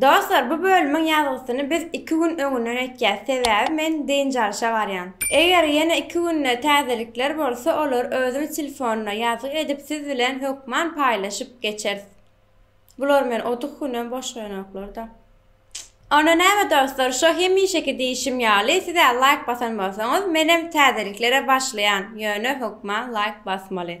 Dostlar bu bölümiň ýazgysyny biz iki gün öňünden etýäs sebäbi men dynç alşa barýan. Eger ýene iki günde täzelikler bolsa olary özümiz telefona ýazgy edip siz bilen hökman paýlaşyp geçeris. Bular men otuz günem boş goýanoklarda. Onda näme dostlar şo hemişeki diýişim ýaly sizä laýk basan bolsaňyz menem täzeliklere başlaýan ýöne hökman laýk basmaly.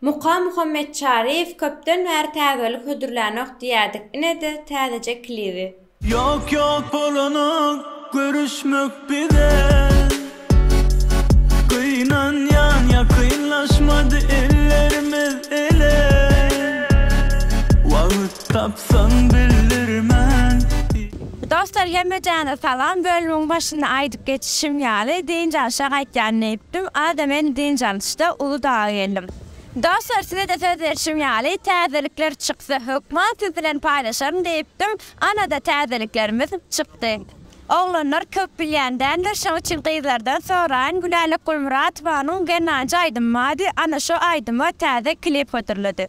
Muka Muhammetçaryýew köpden bäri täzelik hödürlänok diýýädik inede täzeje klibi. Ýok ýok bolanok görüşmek bize Gynanýan ýakynlaşmady ellerimiz ele Wagt. Tapsaň bildirmen. Dostlar hemmejana salam bölümiň başynda aýdyp geçişim ýaly dynç alşa gaýtýan diýipdim ada men dynç alyşda uly daga geldim Dostlar sizede söz berşim ýaly täzelikler çyksa hökman siz bilen paýlaşaryn diýipdim anada täzeliklerimiz çykdy oglanlar köp bilýän däldir şoň üçin gyzlardan soraýyn Gülälek Gulmyratowanyň Gernanji aýdym bady ana şo aýdyma täze klip hödürledi.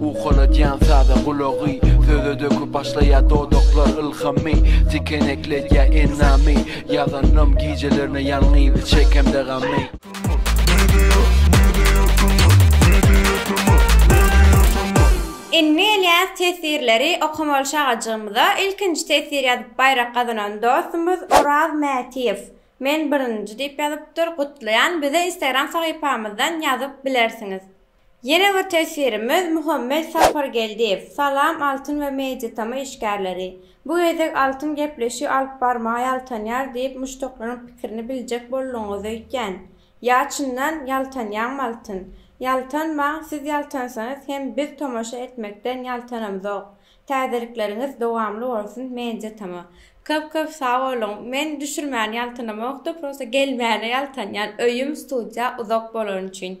Ukaladýan saza gulagy, söze döküp başlaýar dodaklar ylhamy, Tikenekledýär enamy, ýazanym gijelerine ýalňyz çekemde gamy. Indi gelýäs tesirleri okamaly şagajygymyza, ilkinji tesir ýazyp baýrak gazanan dostumyz Oraz Mätiýew, Men birinji diýip ýazypdyr, gutlaýan, bize instagram sahypamyzdan ýazyp bilersiňiz. Ýene bir teswirimiz Muhammet Sapargeldiýew, Salam Altyn we Mediatama işgärleri! Bu gezek Altyn gepleşigi alyp barmaga ýaltanýar diýip muşdaklaryň pikirini biljek boldugyňyzy öýtýän. Ýa çyndan ýaltanýaňmy Altyn? Ýaltanmaň, siz ýaltansaňyz hem biz tomaşa etmekden ýaltanamzok. Täzelikleriňiz dowamly bolsun Mediatama. Köp köp sag boluň. Men düşürmäne ýaltanamokda prosta gelmäne ýaltanýan öýüm studiýa uzak bolany üçin.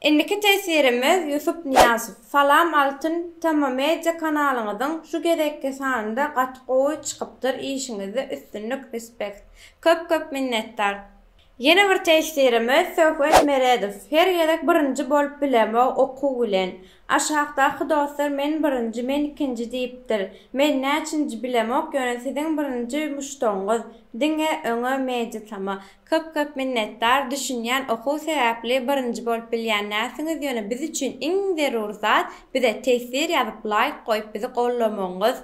Indiki teswirimiz Ýusup Nyýazow. Salam Altyn tema media kanalyňyzyň şu gezekki sanynda gaty gowy çykypdyr işiňizde üstünlik respect. Köp köp minnetdar. Ýene bir teswirimiz Söhbet Meredow. Her gezek birinji bolup bilemok okuw bilen. Aşakdaky dostlar men birinji men ikinji diýipdir. Men näçinji bilemok ýöne siziň birinji muşdagyňyz. Diňe öňe media tama. Köp köp minnetdar düşünýän okuw sebäpli birinji bolup bilýän näsiňiz ýöne biz üçin iň zerur zat bize teswir ýazyp laýk goýup bizi gollamagyňyz.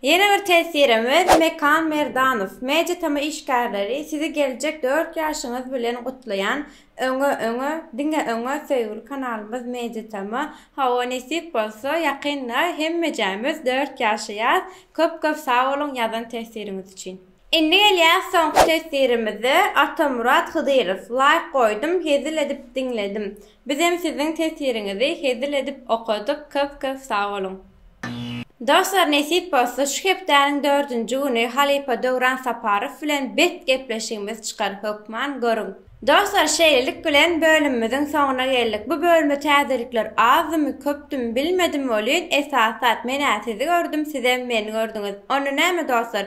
Ýene bir teswirimiz Mekan Merdanow MediaTm işgärleri sizi geljek dört ýaşyňyz bilen gutlaýan öňe öňe diňe öňe söýgüli kanalymyz MediaTm hawa nesip bolsa ýakynda hemmejämiz dört ýaşaýas köp köp sag boluň ýazan teswiriňiz üçin. Indi gelýär soňky tesirimize Atamyrat Hydyrow laýk goýdum hezil edip diňledim bizem siziň tesiriňizi hezil edip okadyk köp köp sag boluň. Dostlar nesip bolsa şu hepdäniň dördünji güni halypa Döwran Saparow bilen bet gepleşigimiz çykar hökman görüň. Dostlar şeýlelik bilen bölümimiziň soňuna geldik bu bölüme täzelikler azdymy köpdümi bilmedim welin esasat menä sizi gördüm sizem meni gördüňiz onda näme dostlar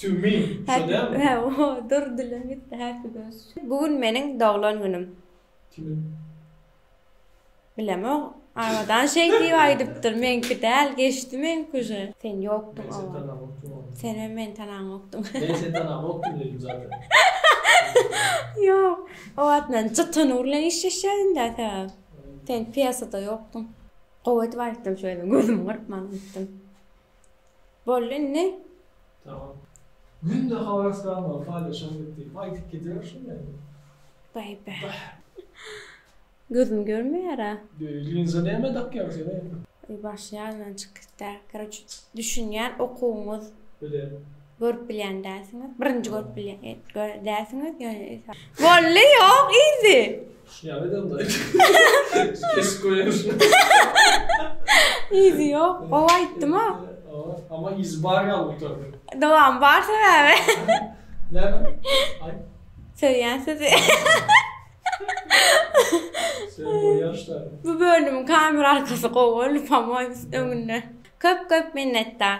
To me, şo dälmi? Hä, o, dur dilim ýitdi, happy birthday. Bu gün meniň doglan günüm. Kimiň? Bilemok. Abadan şeý diýip aýdypdyr, meňki däl, geçdi meňki uje. Sen ýokduň o wagt. Senem meni tanaňokdyň. Men seni tanaňokdym diýdim zaten. Ýok. O wagt men Jytanyr bilen işleşýädim-dä sebäp. Sen pýesada ýokduň. Gowy edip aýtdym şu gezem, gözümi gyrpman aýtdym. Boldy indi. Tamam. Günde habaryslanmagy paýlaşaň diýip diýip aýdyp gider şu meni. Baý baý. Gözüm görmeýärä. Linza näme dakýaň sen eý? Başy ýadymdan çykyp gitdi. Karoç düşünýän okuwyňyz. Bilen. Görüp bilýän dälsiňiz. Birinji görüp bilýän dälsiňiz. Bolly ýok yzy. Ýa edem da. Kesip goýarmyşyn. Yzy ýok. Gowy aýtdym-a. Ama yzy bar ýaly gutardy. Dowamy bar sebäbi. Näme? Aý. Söýýän sizi. Bu bölümiň kamera arkasy gowy, lupam öňünde. Köp-köp minnetdar.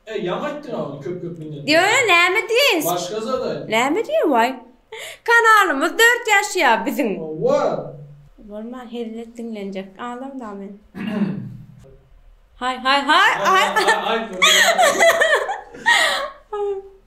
E, ýaňy aýtdyň agam köp-köp minnetdar. Diýýä näme diýeýin. Başga zat aýt. Näme diýeýin waý. Kanalymyz dört ýaşaýa biziň. Howwa. Bolman hezil et diňlenjek adam da men. Haý haý haý. Aý aý aý.